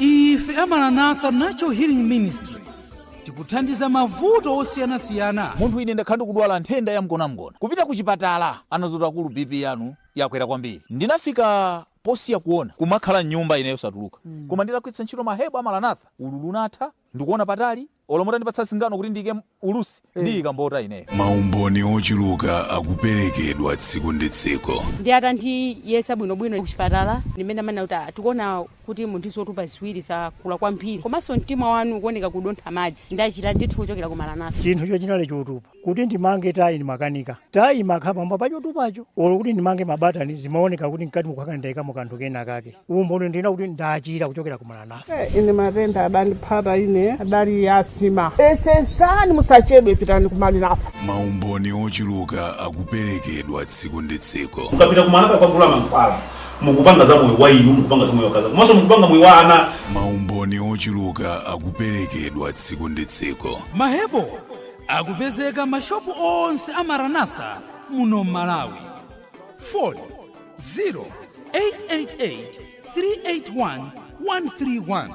ife a maranatha natural healing ministries tikuthandiza mavuto osiyanasiyana munthu ine ndakhala ndikudwala nthenda ya mgonamgona kupita ku chipatala anadzati akulu bp yanu yakwera kwambiri ndinafika posiya kuona kumakhala mnyumba ineyo satuluka koma nditagwiritsa ntchito mahebo a maranatha ululu unatha ndikuona patali Olo mutandipatsa singano kuti ndiike ulusi ndiyika mbota ineyo. Maumboni ochuluka akuperekedwa tsiku ndi tsiku. Ndiye atandiyeza bwinobwino kuchipatala ndi mmene amanenera kuti, ah, tikuona kuti muli ndi zotupa ziwiri zakula kwambiri komanso mtima wanu ukuoneka kudontha madzi. Ndachira ndithu kuchokera ku Maranatha. Chinthucho chinali chotupa. Kuti ndimange tayi ndimakanika. Tayi imakhala pamwamba pa chotupacho. Olo kuti ndimange mabatani, zimaoneka kuti mkati mukukhala ngati ndaikamo kanthu kenakake. Umboni ndinena kuti ndachira kuchokera ku maranatha. Ine matenda adandipatsa ine adali a asima. Yesesani musachedwe pitani ku maranatha. Maumboni ochuluka akuperekedwa tsiku ndi tsiku. Mukapita ku maranatha kukagula mankhwala, mukupanga za moyo wa inu, mukupanga za moyo wa akazanu komanso mukupanga moyo wa ana. Maumboni ochuluka akuperekedwa tsiku ndi tsiku. Mahebo akupezeka m'mashopu onse a maranatha muno m'malawi foni 0888381131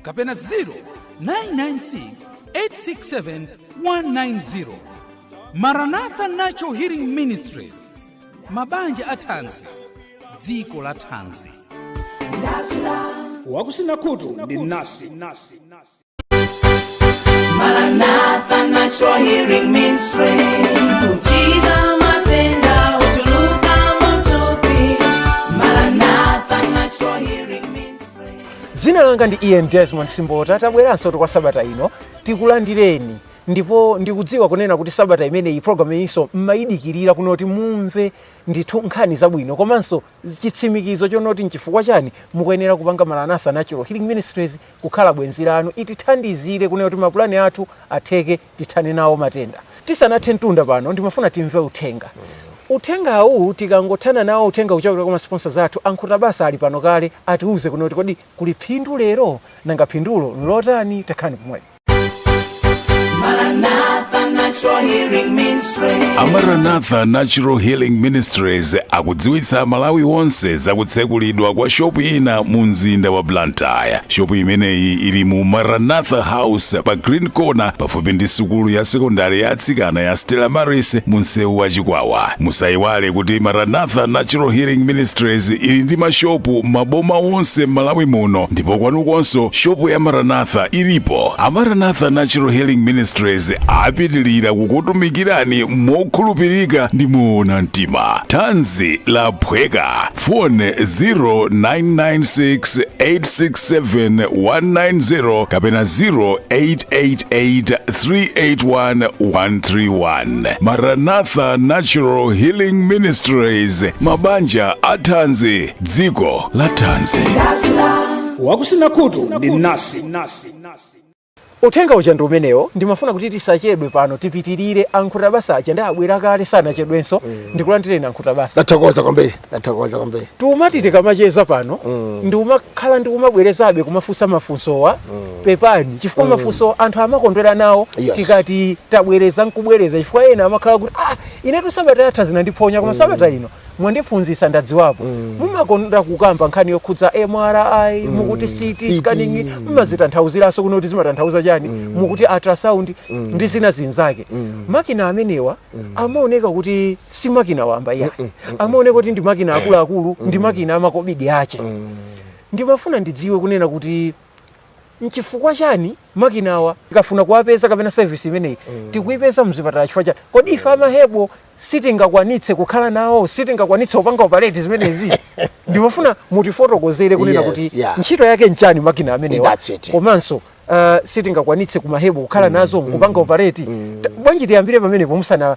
kapena 0996867190 maranatha natural healing ministries mabanja a thanzi dziko la thanzi wakusina khutu ndi mnasi Maranatha Natural Healing Ministry. Kuchiza matenda ochuluka m'thupi. Maranatha Natural Healing Ministry. dzina langa ndi ian desmond simbota tabweranso kwa sabata ino tikulandireni ndipo ndikudziwa kunena kuti sabata imeneyi programu iyinso mumayidikirira kunena kuti mumve ndithu nkhani zabwino komanso chitsimikizo chonoti nchifukwa chani mukuyenera kupanga maranatha natural healing ministries kukhala bwenzi lanu itithandizire kunena kuti mapulani athu atheke tithane nawo matenda tisanathe mtunda pano ndimafuna timve uthenga uwu tikangothana nawo uthenga kuchokera kwa masponsors athu a nkhutabasa ali pano kale atiuze kunena kuti kodi kuli phindu lero nanga phindulo nlotani takhalani pomwepo. Maranatha Natural Healing Ministry. a maranatha natural healing ministries akudziwitsa amalawi onse zakutsekulidwa kwa shopu ina mu mzinda wa blantyre shopu imeneyi ili mu maranatha house pa green corner pafupi ndi sukulu ya sekondari ya atsikana ya stella maris mu msewu wa chikwawa musayiwale kuti maranatha natural healing ministries ili ndi mashopu m'maboma onse m'malawi muno ndipo kwanu konko shopu ya maranatha ilipo a maranatha natural healing ministries apitilira kukutumikirani mokhulupirika ndi moona mtima thanzi laphweka foni 0996867190 kapena 0888381131 maranatha natural healing ministries mabanja a thanzi dziko la thanzi wakusina khutu ndi mnasi uthenga uja ndi umenewo ndimafuna kuti tisachedwe pano tipitirire ankhuta basa aja nde abwera kale sanachedwenso ndikulandireni ankhuta basa ndathokoza kwambiri ndathokoza kwambiri timati tikamacheza pano ndimakhala ndikumabwerezabe kumafunsa mafunsowa pepani chifukwa mafunsowa anthu amakondwera nawo Yes. tikati tabwereza nkubwereza chifukwa ena amakhala kuti ah inetu sabata yatha zinandiphonya koma sabata ino mwandiphunzitsa ndadziwapo mumakonda kukamba nkhani yokhudza mri mukuti CT scanning mm. mumazitanthauziranso kunena kuti zimatanthauza chani mukuti ultrasound ndi zina zinzake makina amenewa amaoneka kuti si makina wamba ayi amaoneka kuti ndi makina akuluakulu ndi makina amakobidi ake ndimafuna ndidziwe kunena kuti Nchifukwa chani makina awa tikafuna kuwapeza kapena service imeneyi mm. tikuipeza mzipatala chifukwa chani? Kodi ife amahebo sitingakwanitse kukhala nawo, sitingakwanitse kupanga operate zimenezi? Ndimafuna mutifotokozere kunena kuti yeah. ntchito yake nchani makina amenewa komanso uh, sitingakwanitse kumahebo kukhala mm, nazo mm, kupanga operate mm. Bwanji tiyambire pamenepo musana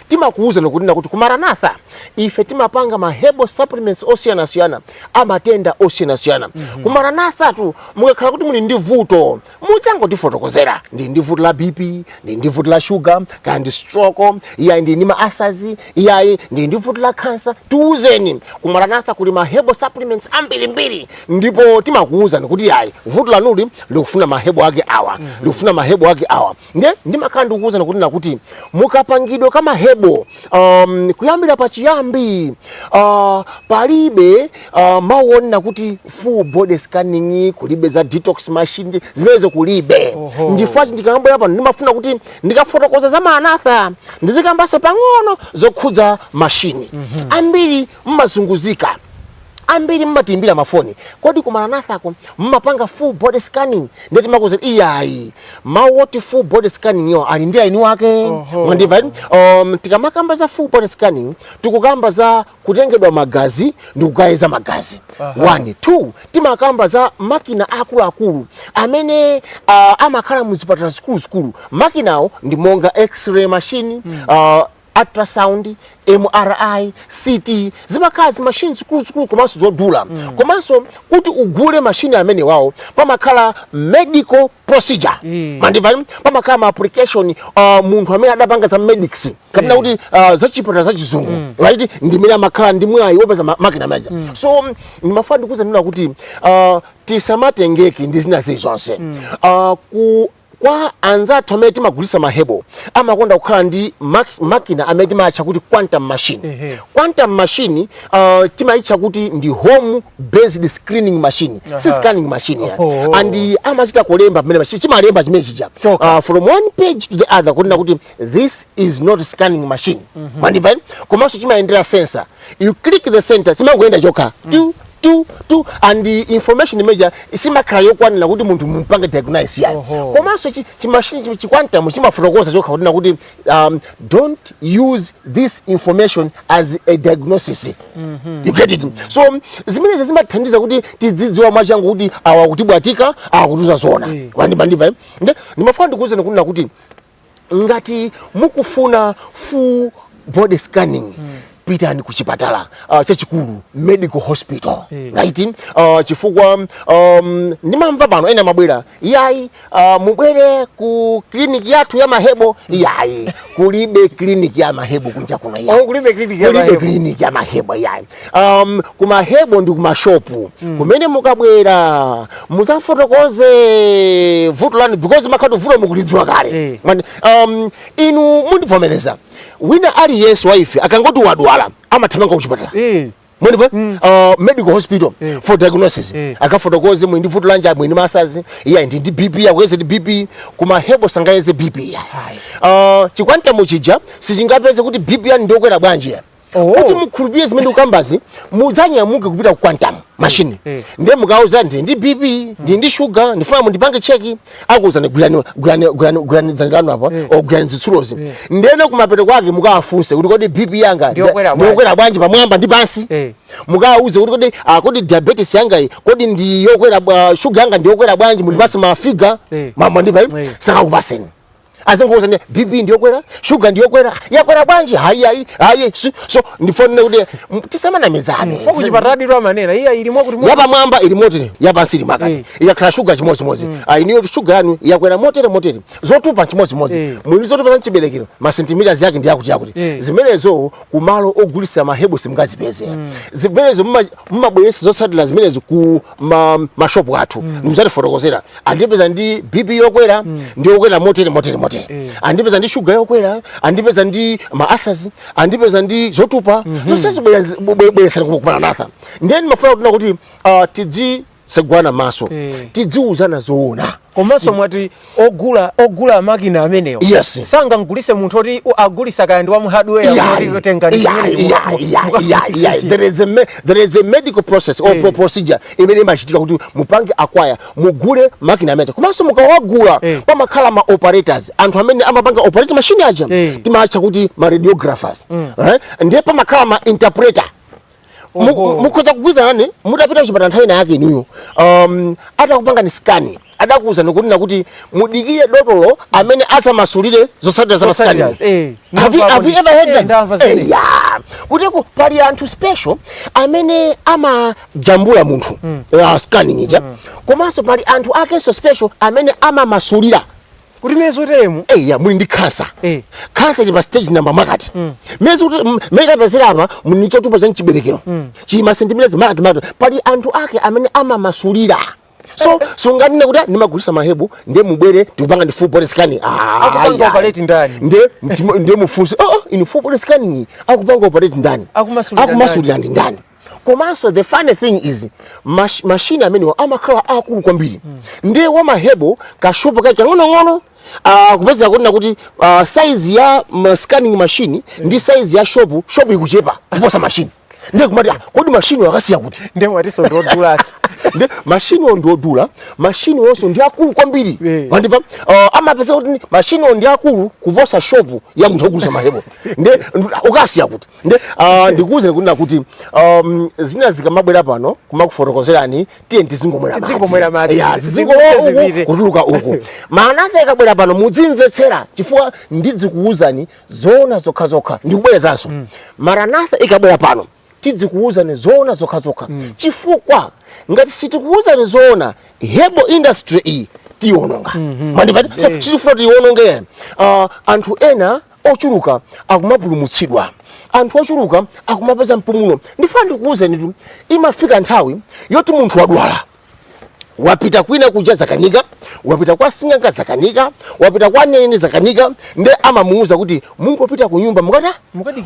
Timakuwuzani kunena kuti ku Maranatha ife timapanga ma herbal supplements osiyanasiyana amatenda osiyanasiyana mm -hmm. ku Maranathatu mukakhala kuti muli ndi vuto mudzangotifotokozera ndili ndi vuto la BP ndili ndi vuto la sugar kaya ndi stroke iyayi ndili ndi ma ulcers iyayi ndili ndi vuto la cancer tiwuzeni ku Maranatha kuli ma herbal supplements ambirimbiri ndipo timakuwuzani kuti yayi vuto lanuli likufuna ma herbal ake awa mm -hmm. likufuna ma herbal ake awa nde ndimakhala ndikukuwuzani kunena kuti mukapangidwe ka mahebo um, kuyambira pachiyambi uh, palibe uh, mawu onena kuti full body scanning kulibe za detox machine zimenezo kulibe Oho. ndi chifukwa chake ndikangobwera pano ndimafuna kuti ndikafotokoza za maranatha ndizikambanso pang'ono zokhudza mashini ambiri mmazunguzika ambiri mmatiimbira mafoni kodi ku maranathako mmapanga full body scanning ndiye timakuuzani iyayi mawu oti full body scanning-wo ali ndi eni ake mwandimva um, tikamakamba za full body scanning tikukamba za kutengedwa magazi ndi kukayeza magazi one two timakamba za makina akuluakulu amene uh, amakhala mu zipatala zikuluzikulu makinawo ndi monga x-ray machine uh, ultrasound, MRI, CT zimakhala zi machine zikuluzikulu komanso zodula mm. komanso kuti ugule machine amenewawo pamakhala medical procedure mm. mandimva pamakhala ma application uh, munthu amene adapanga za medicine kapena mm. kuti uh, za chipatala za chizungu mm. right ndimene amakhala ndi mwayi wopeza makina meja mm. so ndimafuna ndikuuzeni kunena kuti uh, tisamatengeke ndi zina zili zonse mm. uh, ku Kwa anzathu amene timagulitsa ma herbal amakonda kukhala ndi mak makina amene timawatcha kuti quantum machine. Mm -hmm. Quantum machine uh, timayitcha kuti ndi home based screening machine. Uh -huh. Si scanning machine iyayi. Oh, oh. And amachita kulemba pamene chimalemba chimene chija. Uh, from one page to the other kunena kuti this is not scanning machine mm -hmm. mandimva komanso chimayendera sensor you click the enter chimangoyenda chokha mm. tu tu tu and the information imene ija simakhala yokwanira kuti munthu mumpange diagnose iyayi komanso chimashini chikwantamu chimafotokoza chokha kunena kuti um, don't use this information as a diagnosis mm -hmm. you get it so zimenezi zimathandiza kuti tidzidziwa mwachangu kuti awa akutibwatika awa akutiuza zona yeah. mwandimva eh? ndimafuna ndikuuzeni kunena kuti ngati mukufuna full body scanning mm. pitani ku chipatala uh, chachikulu medical hospital mm. right uh, chifukwa um, ndimamva pano ena amabwera iyayi uh, mubwere ku kliniki yathu ya mahebo mm. iyayi kulibe kliniki ya mahebo kunja kuno iyayi oh, kulibe kliniki ya mahebo kliniki ya mahebo iyayi um, kumahebo ndi kumashopu mm. kumene mukabwera mudzafotokoze vuto lanu because mumakhala kuti vuto mukulidziwa kale hey. Eh. um, inu mundivomereza wina aliyense wa ife akangoti wadwala amathamanga kuchipatala hey. Eh. Mwandimva, mm. uh, medical hospital mm. for diagnosis mm. Eh. akafotokoze mwina vuto lanja mwina masazi iya ndi ndi BP amuyeze ndi BP kuma hebo sangayeze BP iyayi uh, chikwantamu chija sichingapeze kuti BP yanu ndiyokwera bwanji iyayi oh. kuti mukhulupirire zimene ndikukambazi mudzanyamuke kupita ku quantum mashini mm. mm. ndiye mukawauze ndili ndi bp mm. ndili ndi shuga ndifuna mundipange cheki akuuzani gwirani gwirani gwirani gwirani dzanja lanu apa mm. gwirani zitsulozi mm. ndiyeno kumapeto kwake mukawafunse kuti kodi bp yanga ndiyokwera bwanji pamwamba ndi pansi mm. mukawauze kuti kodi ah, kodi diabetes yanga iyi kodi ndiyokwera uh, shuga yanga ndiyokwera bwanji mundipatse mm. mafiga mm. mumandimva mm. sakakupatsani azingokuuzani bp ndiyokwera shuga ndiyokwera yakwera bwanji hayi ayi ayi si- so ndifune kuti m- tisamanamizane Fo kuchipatala dito amanena iya ilimo kuti mo- yapamwamba ili motere yapansi ili mwakuti Eh. ikakhala shuga chimodzimodzi ayi inuyo kuti shuga yanu yakwera motere motere zotupa chimodzimodzi Eh. mwina zotupa za mchiberekero masentimitasi yake ndi yakuti yakuti Eh. zimenezo kumalo ogulitsira mahebu simungazipeze zimenezo muma- mumabweretsa zotsatira zimenezo ku ma mashopu athu mm. ndikudzatifotokozera andipeza ndi bp yokwera mm. ndi yokwera motere motere motere mm. andipeza ndi shuga yokwera andipeza ndi ma ulcers andipeza ndi zotupa mm -hmm. zonse zibweresera kukumana natha ndeni mafuna kutina kuti uh, ah, tidzitsegulana maso mm. tidziuzana zoona komanso mwati ogula ogula makina amenewo yes. sangamgulitse munthu oti agulitsa kaya ndi wa mu hardware there is a medical process or yeah. procedure imene imachitika kuti mupange acquire mugule makina amene komanso mukawagula yeah. pamakhala ma operators anthu amene amapanga operate machine aja yeah. timaatcha kuti ma radiographers mm. right? ndiye pamakhala ma interpreter Oho. mukhoza kugwirizana nane mutapita kuchipatala nthawi ina yake inuyo um, atakupangani skani adakuwuzani kunena kuti mudikire dotolo amene adzamasulire zotsatira za maskani Zotsatira, eh. Have you- Ndamva have you kuti- ever heard eh, that? ndamva Eh, zimene. yeah. kuteroko pali anthu special amene amajambula munthu uh, scanning ija komanso pali anthu akenso special amene amamasulira kuti mmene ziliri teremu eya muli ndi khansa Eh. khansa ili pa stage namba mwakuti mezi mmene tapezera apa muli ndi chotupa cha mchiberekero chili masentimita mwakuti mwakuti pali anthu ake amene amamasulira so sunganene kuti ndimagulitsa mahebu ndiye mubwere tikupangeni full body scanning Ah, Akupanga ayi, ayi. operate ndani? ndiye mtima- ndiye mufunse oh, oh, inu full body scanning akupanga operate ndani Akumasulira akumasulira ndi ndani komanso the funny thing is mash, mashini amenewa amakhala akulu kwambiri mm. ndiye wamahebo kashopu kake kang'onong'ono Uh, kupeza kuti nakuti uh, ah, size ya ma scanning machine mm. ndi size ya shopu shopu ikuchepa kuposa mashini ndiye kumati ah, kodi mashini akasiya kuti ndiye mwatinso ndi odulanso nde mashiniwo ndi odula mashiniwonso ndi akulu kwambiri eh. wandipa uh, eh, amapeza kuti mashiniwo ndi akulu kuposa shopu ya munthu ogulitsa mahebo nde akasiya kuti nde uh, ndikuwuzeni kunena kuti um, zina zikamabwera pano kumakufotokozerani tiyeni tizingomwera Tizingomwera madzi. madzi. Ya, zizingolo Zizingomwera uku zipite. kutuluka uku maranatha ikabwera pano mudzimvetsera chifukwa ndidzikuwuzani zoona zokhazokha ndikubwerezanso maranatha ikabwera pano tidzikuwuzani zoona zokhazokha chifukwa ngati sitikuwuzani zoona hebo industry iyi tiwononga mwandipatanso chifukwa tiwononge uh, anthu ena ochuluka akumapulumutsidwa anthu ochuluka akumapeza mpumulo ndifuna ndikuwuzenitu imafika nthawi yoti munthu wadwala wapita kwina kuja zakanika wapita kwa sing'anga zakanika wapita kwa mneneri zakanika nde amamuwuza kuti mungopita ku nyumba mukata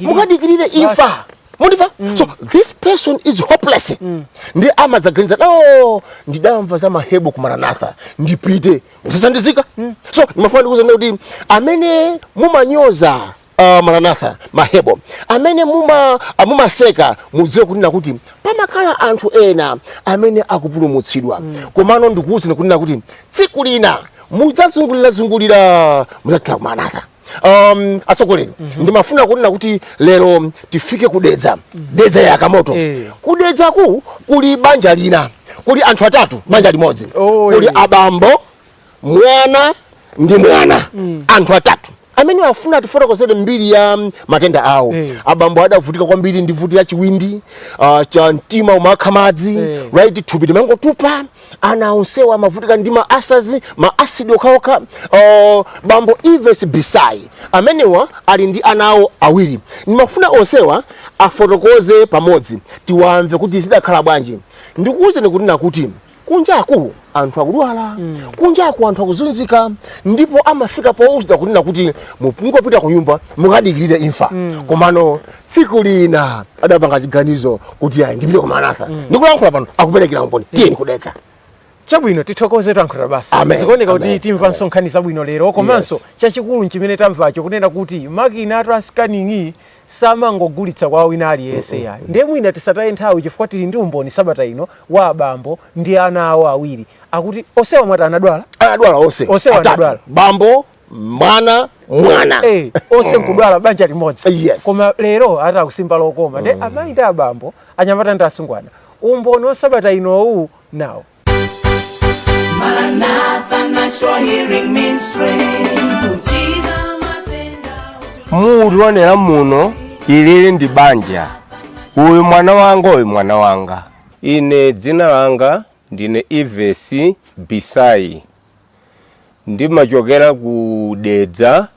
mukadikirire imfa mukundimva mm. so this person is hopeless mm. nde amadzaganiza no oh, ndidamva za mahebo ku maranatha ndipite uzathandizika so ndimafuna ndikuuzeni kuti amene mumanyoza uh, maranatha mahebo amene muma ah, mumaseka mudziwe kunena kuti pamakhala anthu ena amene akupulumutsidwa komano ndikuuzeni kunena kuti tsiku lina mudzazungulirazungulira mudzathera kumaranatha um, atsogoleri mm -hmm. ndimafuna kunena kuti lero tifike kudedza mm -hmm. dedza ya kamoto eh. kudedzaku kuli banja lina kuli anthu atatu banja limodzi oh, kuli eh. abambo mwana ndi mwana mm. anthu atatu amene afuna atifotokozere mbiri ya mm, matenda awo hey. Eh. abambo adavutika kwambiri ndi vuto la chiwindi uh, cha mtima umakha madzi hey. Eh. right thupi limangotupa ana onsewa amavutika ndi ma ulcers ma acid okhaokha oh, bambo ives bisai amenewa ali ndi ana awo awiri ndimafuna onsewa afotokoze pamodzi tiwamve kuti zidakhala bwanji ndikuwuzeni kunena kuti kunjaku anthu akudwala kunjaku anthu akuzunzika ndipo amafika powuzidwa kunena kuti muzingopita ku nyumba mukadikirire imfa komano tsiku lina adapanga chiganizo kuti ayi ndipite ku maranatha mm. ndikulankhula pano akuperekera umboni mm. tiyeni kudedza chabwino tithokoze tankhula basi zikuoneka kuti timva nkhani zabwino lero komanso yes. chachikulu nchimene tamvacho kunena kuti makina atu a scanning samangogulitsa kwa wina aliyense mm -mm. yayo ndiye mwina tisataye nthawi chifukwa tili ndi umboni sabata ino wa abambo ndi ana awo awiri akuti onsewa mwati anadwala anadwala onse onsewa anadwala bambo mwana mwana hey, eh, onse mm. nkudwala banja limodzi yes. koma lero ati akusimba lokoma nde mm. amayi ndi abambo anyamata ndi asungwana umboni wa sabata inowu nawo mukutionera muno ili ndi banja uyu mwana wanga uyu mwana wanga ine dzina langa ndine ives bisai Ndimachokera ku Dedza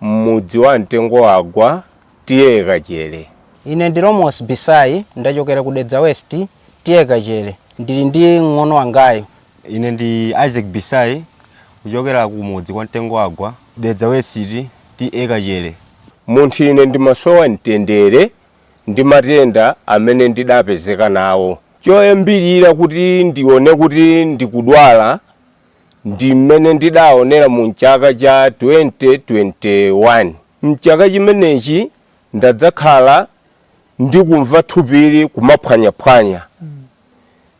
m'mudzi wa Mtengowagwa, TA Kachere. Ine ndi Romos Bisayi, ndachokera ku Dedza West, TA Kachere. Ndili ndi mng'ono wangayu. Ine ndi Isaac Bisayi, kuchokera kumudzi kwa Mtengowagwa, Dedza West, TA Kachere. Munthu ine ndimasowa mtendere ndi matenda amene ndidapezeka nawo. Choyambirira kuti ndione kuti ndikudwala ndi mmene ndidaonera mu m'chaka cha 2021. M'chaka chimenechi ndadzakhala ndikumva thupili kumaphwanyaphwanya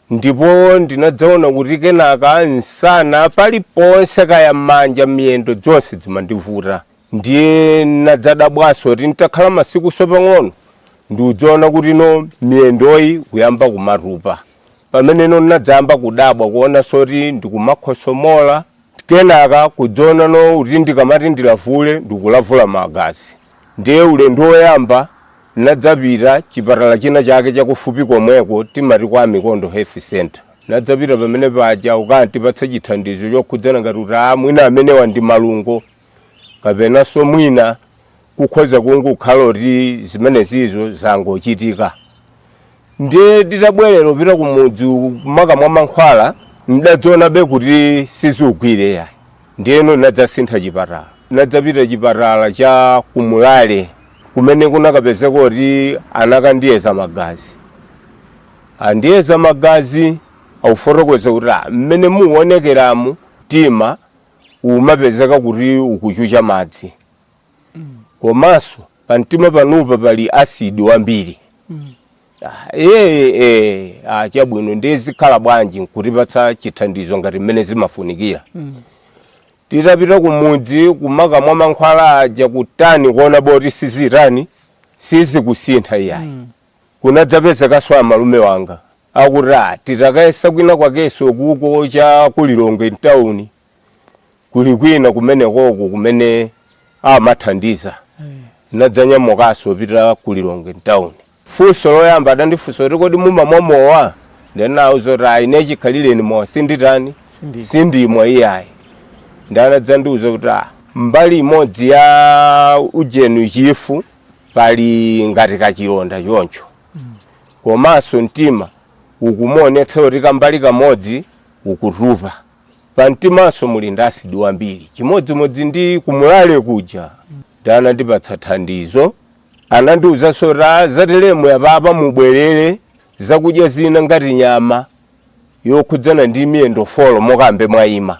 ndipo ndinadzaona kuti kenaka msana paliponse kaya manja, miyendo dzonse dzimandivuta. Ndiye nadzadabwanso kuti nditakhala masikunso pang'ono nkudzaona kuti no miyendoyi kuyamba kumatupa. Pamene no nadzayamba kudabwa kuonanso kuti ndikumakhosomola kenaka kudzaona no kuti ndikamati ndilavule ndikulavula magazi. Ndiye ulendo woyamba nadzapita chipatala china chake chakufupi komweko timati kwa Amikondo Health Centre. Nadzapita pamene paja kukatipatsa chithandizo chokhudzana ngati kuti aa mwina amenewa ndi malungo. kapenanso mwina kukhoza kungokhala kuti zimenezizo zangochitika ndiye titabwerera kupita kumudzi kumakamwa mankhwala ndidadzaonabe kuti sizikugwira yayi ndiyeno nadzasintha chipatala nadzapita chipatala cha ku Mlale kumene kunakapezeka kuti anakandiyeza magazi andiyeza magazi akufotokoza kuti "Ah, mmene muonekeramu tima umapezeka kuti ukuchucha madzi komanso pamtima panupa pali asidi wambiri Ah, chabwino ndiye zikhala bwanji nkutipatsa chithandizo ngati mmene zimafunikira titapita kumudzi kumakamwa mankhwala aja kutani kuonabe kuti sizitani sizikusintha iyayi kunadzapezekanso amalume wanga akuti a titakayesa kwina kwakenso kuko cha ku Lilongwe mtauni kuli kwina kumenekoko kumene amathandiza nadzanyamukanso kupita ku Lilongwe mtauni funso loyamba adandifunsa kuti kodi mumamwa mowa nde nawauza kuti ayi ine chikhalireni mowa sinditani sindimwa iyayi nde anadzandiuza kuti ah, mbali imodzi ya ujeni chifu pali ngati kachilonda choncho komanso mtima ukumuonetsa kuti kambali kamodzi ukutupa pamtimanso muli ndi asidi wambiri chimodzimodzi ndi ku Mlale kuja nde anandipatsa thandizo anandiwuzanso kuti "Ah, za tiremuyi apapa mubwerere zakudya zina ngati nyama yokhudzana ndi miyendo folo mukhambe mwayima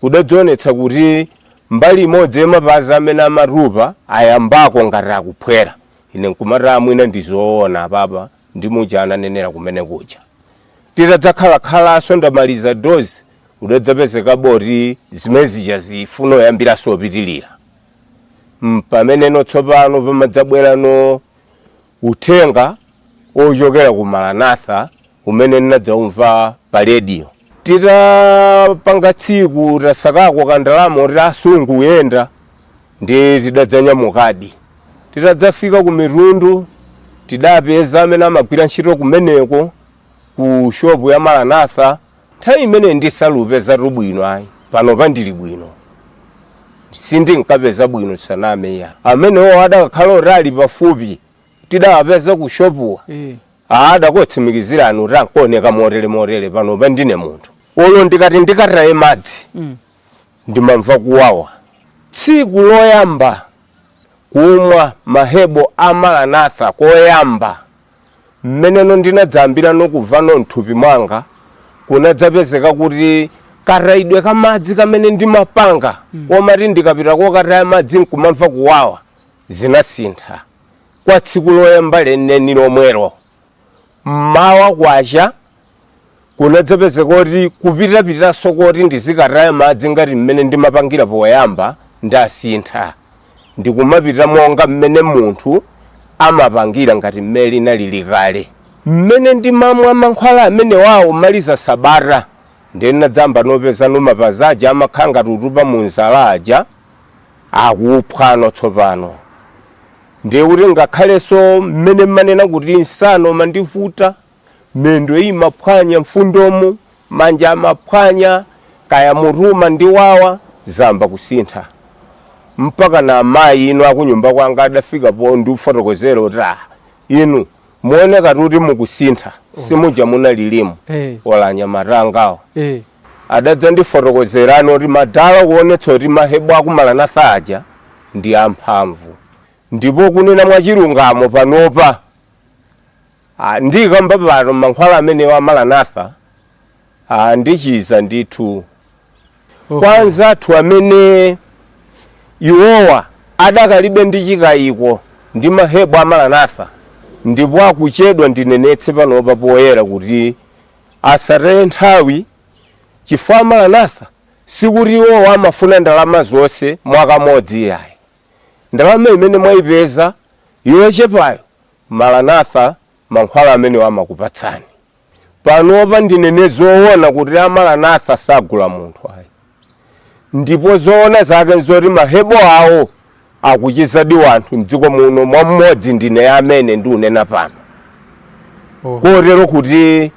kudadzaonetsa kuti mbali imodzi ya mapazi amene amatupa ayambako ngati akuphwera ine nkumati aa mwina ndizoona apapa ndi muja ananenera kumene kuja titadzakhalakhalanso ndamaliza dozi kudadzapezekabe kuti zimene zija zifuno yambiranso kupitirira mpamene no tsopano pamadzabwerano Uthenga wochokera ku Maranatha umene ndinadzaumva pa radio. Titapanga tsiku tasakako ka ndalama koti transport kuyenda ndiye tidadzanyamukadi. Titadzafika ku Mitundu tidapeza amene amagwira ntchito kumeneko ku shop ya Maranatha. Nthawi imeneyi sindinkapezatu bwino ayi, panopa ndili bwino. Sindinkapeza bwino tisaname ayi. Amenewo adakakhala oti ali pafupi tidawapeza ku shopuwa. Eh. Ah, adakotsimikizirani kuti amkaoneka motere motere panopa ndine munthu. Olo ndikati ndikataye madzi Mm. ndimamva kuwawa. Tsiku loyamba kumwa mahebo a Maranatha koyamba Mmeneno ndinadzayambirano kuvano m'thupi mwanga kunadzapezeka kuti katayidwe ka madzi kamene ndimapanga komati ndikapita kokataya madzi nkumamva kuwawa zinasintha kwa tsiku loyamba lenileni lomwelo m'mawa kwacha. kunadzapezeka kuti kupitapitanso koti ndizikataya madzi ngati mmene ndimapangira poyamba ndasintha ndikumapita monga mmene munthu amapangira ngati mmene ndinalili kale mmene ndimamwa mankhwala amenewa pomaliza sabata ndinadzayambano kupeza mapazi aja amakhala ngati akutupa mu zala aja akuphwa tsopano ndiye kuti ngakhalenso mmene ndimanena kuti msana umandivuta miyendo imaphwanya mfundomu manja amaphwanya kaya mutu umandiwawa zayamba kusintha mpaka na amayi inu akunyumba kwanga adafika pondifotokozera kuti ah, inu mukuoneka kuti mukusintha simuja munalili muja Eh. olo anyamata angawo Eh. adadzandifotokozeranso kuti madala kuonetsa kuti mahebo aku Maranatha aja ndi amphamvu ndipo kunena mwachilungamo panopa Ah, ndikamba pano mankhwala amenewa a Maranatha ah, andichiza ndithu kwa anzathu amene iwowa adakalibe ndi chikayiko ndi mahebo a Maranatha ndipo akuchedwa ndinenetse panopa poyera kuti asataye nthawi chifukwa a Maranatha sikuti iwowa amafuna ndalama zonse mwakamodzi yayi ndalama imene mwayipeza yochepayo Maranatha mankhwala amenewo amakupatsani. Panopa ndinene zoona kuti a Maranatha sagula munthu ayi. Ndipo zoona zake n'zoti mahebo awo akuchizadi wanthu m'dziko muno mmodzi ndine amene ndikunena pano. Oh. Kotero kuti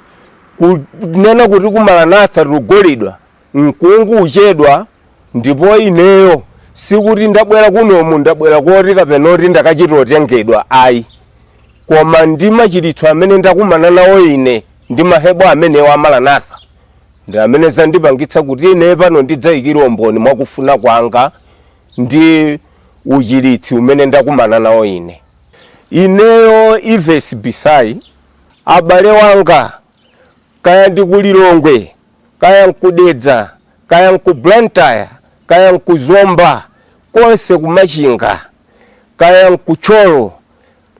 kunena kuti ku Maranatha tikugulidwa mukungochedwa ndipo ineyo sikuti ndabwera kuno ndabwera koti kapena kuti ndakachita otengedwa ayi koma ndi machiritso amene ndakumana nawo ine ndi mahebo amenewa a Maranatha ndi amene zandipangitsa kuti ine pano ndidzayikire umboni mwakufuna kwanga ndi uchiritsi umene ndakumana nawo ine ineyo Ives Bisai abale wanga kaya ndi ku Lilongwe, kaya nku Dedza, kaya nku Blantyre, kaya nku Zomba, konse ku Machinga, kaya nku Thyolo,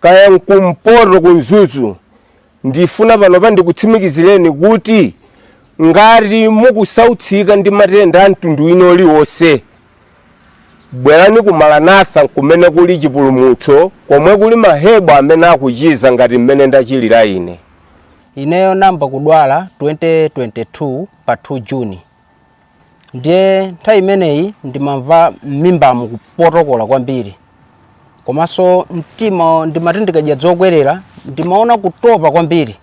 kaya nku Mpoto ku Mzuzu, ndifuna panopa ndikutsimikizireni kuti ngati mukusautsika ndi matenda a mtundu wina uliwonse, bwerani ku Maranatha kumene kuli chipulumutso, komwe kuli mahebo amene akuchiza ngati mmene ndachilira ine. Ineyo namba kudwala 2022 pa 2 June ndiye nthawi imeneyi ndimamva m'mimbamu kupotokola kwambiri komanso mtima ndimati ndikadya dzokwerera ndimaona kutopa kwambiri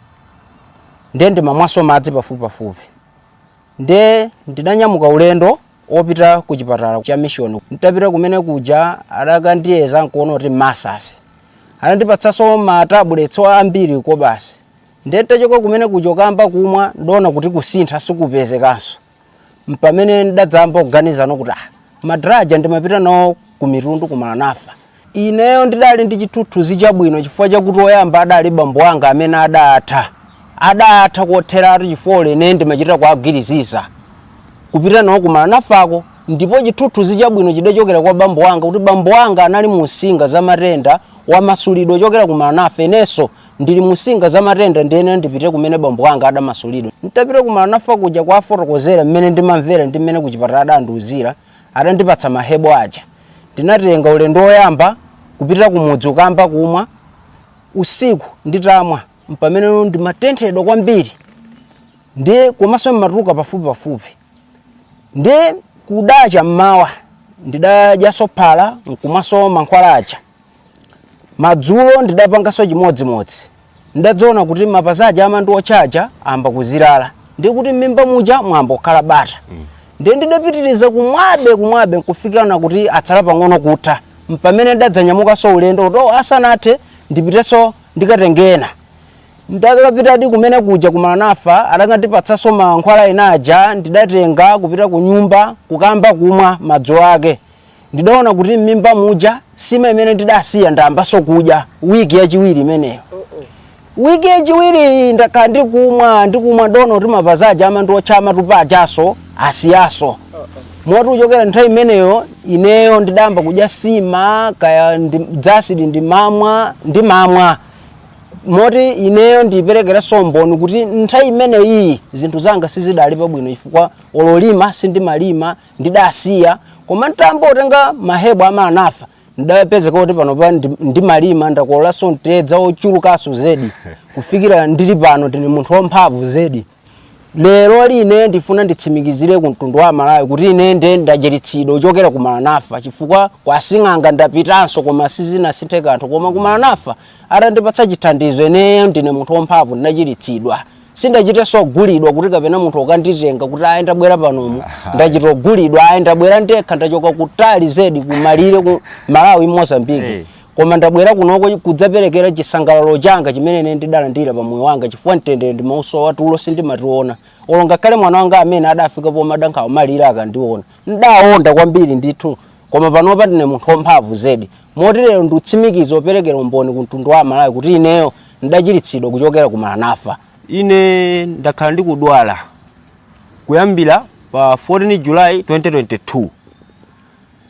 ndiye ndimamwanso madzi pafupipafupi Nde ndidanyamuka ulendo opita ku chipatala cha mission. Ntapita kumene kuja adakandiyeza nkuona kuti ma ulcers. Anandipatsanso ma tablets ambiri kobasi. Nde ntachoka kumene kuja kukamba kumwa ndona kuti kusintha sikupezekanso. Mpamene ndadzamba kuganiza no kuti ah madala aja ndimapita nawo ku Mitundu ku Maranatha. Ineyo ndidali ndi chithuthuzi chabwino chifukwa chakuti oyamba adali bambo anga amene adatha. Adatha kotheratu chifukwa olo ine ndimachita kuwagwiriziza. Kupita nawo ku Maranathako ndipo chithuthuzi chabwino chidachokera kwa bambo anga kuti bambo anga anali munsinga za matenda wamasulidwa kuchokera ku Maranatha inenso ndili munsinga za matenda ndiyenera ndipite kumene bambo anga adamasulidwa. Nditapita ku Maranatha kuja kuwafotokozera mmene ndimamvera ndi mmene kuchipatala adandiuzira, Adandipatsa ma herbal aja ndinatenga ulendo woyamba kupita kumudzi kukayamba kumwa. Usiku nditamwa m'pameneno ndimatenthedwa kwambiri ndiye komanso ndimatuluka pafupipafupi. Ndiye kudacha m'mawa ndidadyanso phala n'kumwanso mankhwala aja. Madzulo ndidapanganso chimodzimodzi. Ndidadzaona kuti mapazi aja amandiotcha aja ayamba kuzirala. Ndi kuti m'mimba muja mwayamba kukhala bata. Ndiye ndidapitiriza kumwabe kumwabe nkufikira na kuti atsala pang'ono kutha. Mpamene ndidadzanyamukanso ulendo kuti oh, asanathe ndipitenso ndikatenge ena. Ndakapitadi kumene kuja ku Maranatha adakandipatsanso mankhwala ena aja ndidatenga kupita ku nyumba kukamba kumwa madzulo ake. ndidaona kuti m'mimba muja sima imene ndidasiya ndayambanso kudya wiki yachiwiri imeneyo wiki yachiwiri ndakhala ndikumwa ndikumwa ndono kuti mapazi aja amandiotcha amatupa ajaso asiyaso moti kuchokera nthawi imeneyo ineyo ndidayamba kudya sima kaya ndi- dzasidi ndimamwa ndimamwa moti ineyo ndiperekera umboni kuti nthawi imeneyi zinthu zanga sizidali pabwino chifukwa olo kulima sindimalima ndidasiya koma ntayamba kutenga mahebo a Malanafa ndidapezeka kuti pano pa ndimalima ndakololanso mtedza ochulukanso zedi kufikira ndili pano ndine munthu wamphamvu zedi lero line ndifuna nditsimikizire ku mtundu wa malawi kuti ine nde ndachiritsidwa kuchokera ku malanafa chifukwa kwa sing'anga ndapitanso koma sizinasinthe kanthu koma ku malanafa atandipatsa chithandizo ineyo ndine munthu wamphamvu ndinachiritsidwa sindachitenso ogulidwa kuti kapena munthu wokanditenga kuti ayi ndabwera panomu ndachita ogulidwa ayi ndabwera ndekha ndachoka kutali zedi kumalire kwa malawi mozambiki hey. Eh. koma ndabwera kunoko kudzaperekera chisangalalo changa chimene ine ndidalandira pa moyo wanga chifukwa mtendere ndi mauso watulo sindimationa olo ngakhale mwana wanga amene adafika pomadandaula mmene akandiona Ndidawonda kwambiri ndithu, koma panopa ndine munthu wamphamvu zedi, moti lero ndikutsimikiza kuperekera umboni ku mtundu wa Amalawi kuti ineyo ndidachiritsidwa kuchokera ku Malanafa. Ine ndakhala ndikudwala kuyambira pa 14 July 2022.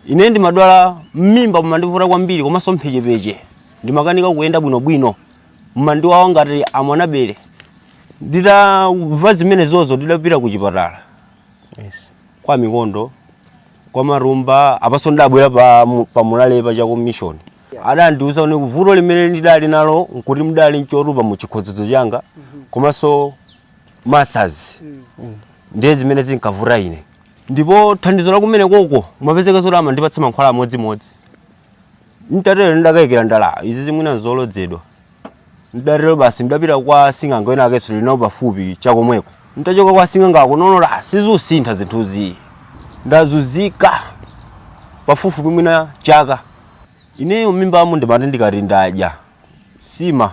Ine ndimadwala m'mimba mumandivuta kwambiri komanso mphechepeche. Ndimakanika kuyenda bwinobwino. Mumandiwawa ngati amwanabere. Nditamva zimenezozo ndidapita ku chipatala. Yes. kwa mikondo kwa marumba apanso ndabwera pa pa mulale pa chako mission adandiuza kuti vuto limene ndidali nalo nkuti mdali nchotupa mu chikhodzodzo changa komanso ma ulcers ndiye zimene zinkavuta ine ndipo thandizo la kumene koko mapezeka zoti amandipatsa mankhwala amodzimodzi ntatero ndidakayikira ndati izi mwina nzolodzedwa Ndidatero basi ndidapita kwa sing'anga wina wakenso tili nawo pafupi chakomweko. Nditachoka kwa sing'angako ndaona ah, sizusintha zinthuzi. Ndazunzika pafupifupi mwina chaka. Ineyo m'mimbamu ndimati ndikati ndadya nsima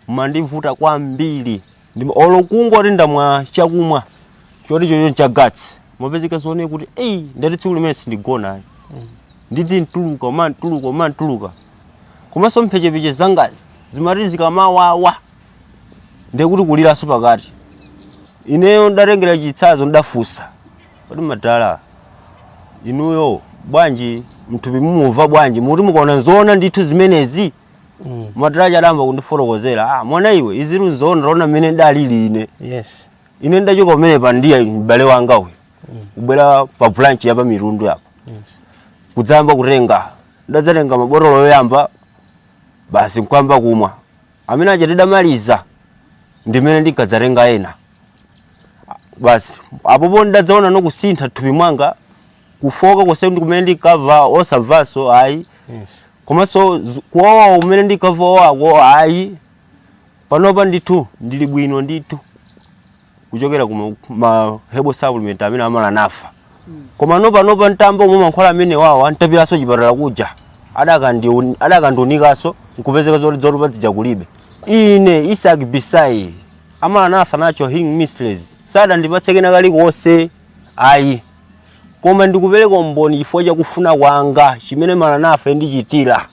mandivuta kwambiri Ndima- olo kungoti ndamwa chakumwa choti chocho cha gasi mapezeka zoti kuti eyi ndati tsiku limene sindigona ayi ndidzingotuluka kumatuluka kumatuluka komanso mphechepeche zangazi zimati zikamawawa ndiye kuti kuliranso pakati ineyo ndatengera chitsanzo ndafunsa kodi madala inuyo bwanji mthupi mumumva bwanji muti mukuona nzoona ndithu zimenezi madala adayamba kundifotokozera ah, mwana iwe izizi nzoona waona mmene ndalili ine yes ine ndachoka kumene pandiya m'bale wanga uyu mm. kubwera pa branch ya pa mitundu yapa yes. kudzayamba kutenga ndadzatenga mabotolo yoyamba basi nkuyamba kumwa amene aja nditamaliza ndimene ndikadzatenga ena basi apopo ndadzaona kusintha thupi mwanga kufoka konse kumene ndinkamva osamvanso ayi yes. komanso kuwawa kumene ndinkamva kuwawako ayi Panopa ndithu ndili bwino ndithu kuchokera ku ma- ma herbal supplement amene a Maranatha koma nopanopa ntayamba kumwa mankhwala amenewawa ntapiranso chipatala kuja adakandiuni- adakandiunikaso nkupezeka zoti zotupa zija kulibe ine Isaac Bisayi a Maranatha Natural Healing Ministries sadandipatse kena kalikonse ayi koma ndikupereka umboni chifukwa cha kufuna kwanga chimene Maranatha indichitira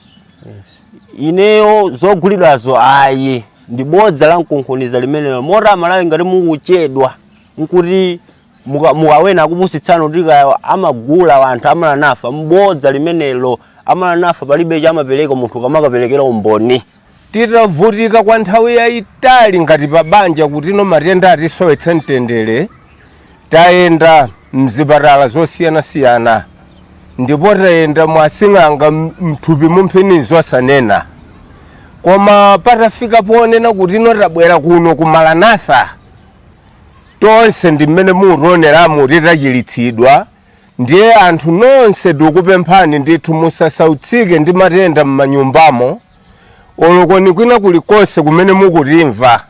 Yes. ineyo zogulidwazo ayi ndi bodza la mkunkhuniza limenelo moti a Malawi ngati mukuchedwa nkuti muka- mukawena akupusitsana kuti kaya amagula anthu a Maranatha mbodza limenelo a Maranatha palibe chamapereka munthu akamakaperekera umboni Titavutika kwa nthawi yaitali ngati pa banja kutino matenda atisowetsa mtendere, tayenda m'zipatala zosiyanasiyana ndipo tayenda mwa asing'anga m- m'thupimu mphini zosanena. Koma patafika ponena kutino tabwera kuno ku Maranatha, tonse ndi mmene mutioneramu titachiritsidwa Ndiye anthu nonse ndikupemphani ndithu musasautsike ndi matenda mmanyumbamo olo koni kwina kulikonse kumene mukutimva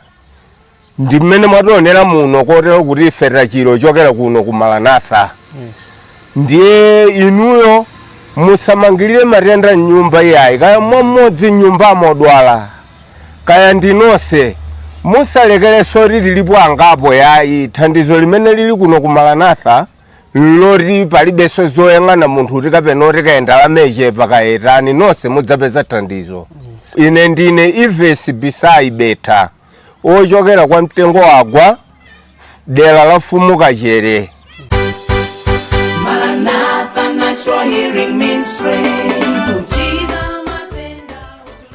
ndi mmene mwationera muno kotero kuti ife tachira kuchokera kuno ku Maranatha Yes. ndiye inuyo musamangirire matenda mnyumba iyayi kaya mmodzi mnyumbamo odwala kaya ndinonse musalekereso kuti tilipo angapo yayi thandizo limene lili kuno ku Maranatha loti palibenso zoyang'ana munthu kuti kapena oti kaya ndalama ichepa kaya itani nonse mudzapeza thandizo ine ndine Ives Bisayi Beta ochokera kwa Mtengowagwa dera la mfumu Kachere Maranatha Natural Healing Ministry.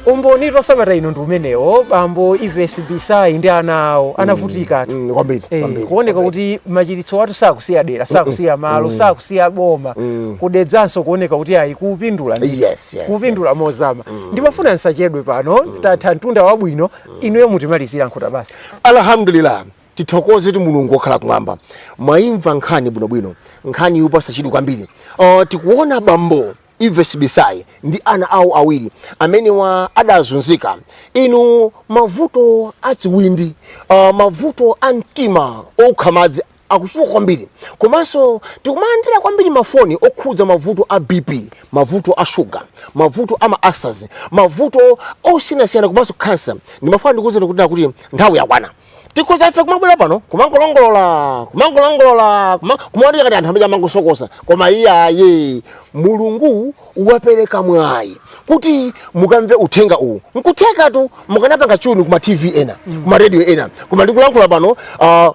umbonitu sabata ino ndi umenewo bambo Ives Bisayi ndi ana awo anavutikatu Mm, kwambiri Eh, kwambiri, kuoneka kwambiri. kuti machiritso athu sakusiya dera sakusiya malo sakusiya boma ku Dedzanso kuoneka kuti ayi kupindula ndithu. Yes, yes, kupindula mozama ndimafuna nsachedwe pano tatha mtunda wabwino inuyo mutimalizira nkhuta basi alhamdulillah tithokozetu Mulungu okhala kumwamba mwayimva nkhani bwinobwino nkhani yopatsa chidwi kwambiri uh, tikuona bambo Ives Bisayi ndi ana awo awiri amenewa adazunzika. Inu mavuto a ziwindi, uh, mavuto a mtima okha madzi akuchuluka kwambiri komanso tikumalandira kwambiri mafoni okhudza mavuto a BP mavuto a shuga mavuto a ma ulcers mavuto osiyanasiyana komanso kansa ndimafuna ndikuuzeni kuti kuti nthawi yakwana tikhoza ife kumabwera pano kumangolongolola kumangolongolola kuma- kumaoneka ngati anthu amene amangosokosa koma iye ayi mulungu wapereka mwayi kuti mukamve uthenga uwu nkuthekatu mukanapanga chuni kuma tv ena kuma radio ena koma ndikulankhula pano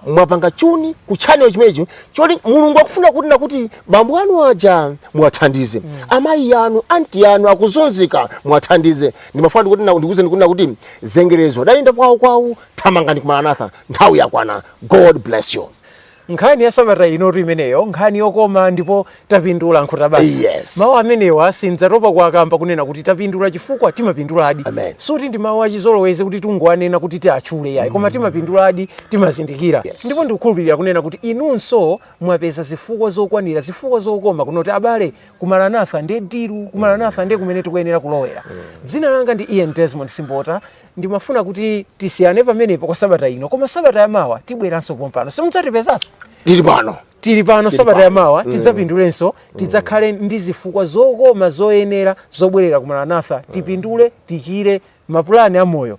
mwapanga chuni ku channel chimenechi choti mulungu akufuna kuti nakuti bambo anu aja muwathandize amayi anu anti anu akuzunzika muwathandize ndimafuna ndikuti na- ndikuwuzeni kuti nakuti zengerezo adayenda kwawo kwawo thamangani ku maranatha nthawi yakwana god bless you nkhani ya sabata inotu imeneyo nkhani yokoma ndipo tapindula nkhuta basi mawu amenewa sindzatopa kuwakamba kunena kuti tapindula chifukwa timapinduladi sikuti ndi mawu achizolowezi kuti tungowanena kuti tiatchule yayi koma timapinduladi timazindikira ndipo ndikukhulupirira kunena kuti inunso mwapeza zifukwa zokwanira zifukwa zokoma kunena kuti abale ku maranatha ndiye diru ku maranatha ndiye kumene tikuyenera kulowera dzina langa ndi ian desmond simbota ndimafuna kuti tisiyane pamenepo kwa sabata ino koma sabata yamawa tibweranso pompano mudzatipezanso tili pano tili pano sabata yamawa tidzapindulenso tidzakhale ndi zifukwa zokoma zoyenera zobwerera ku maranatha tipindule tichire mapulani a moyo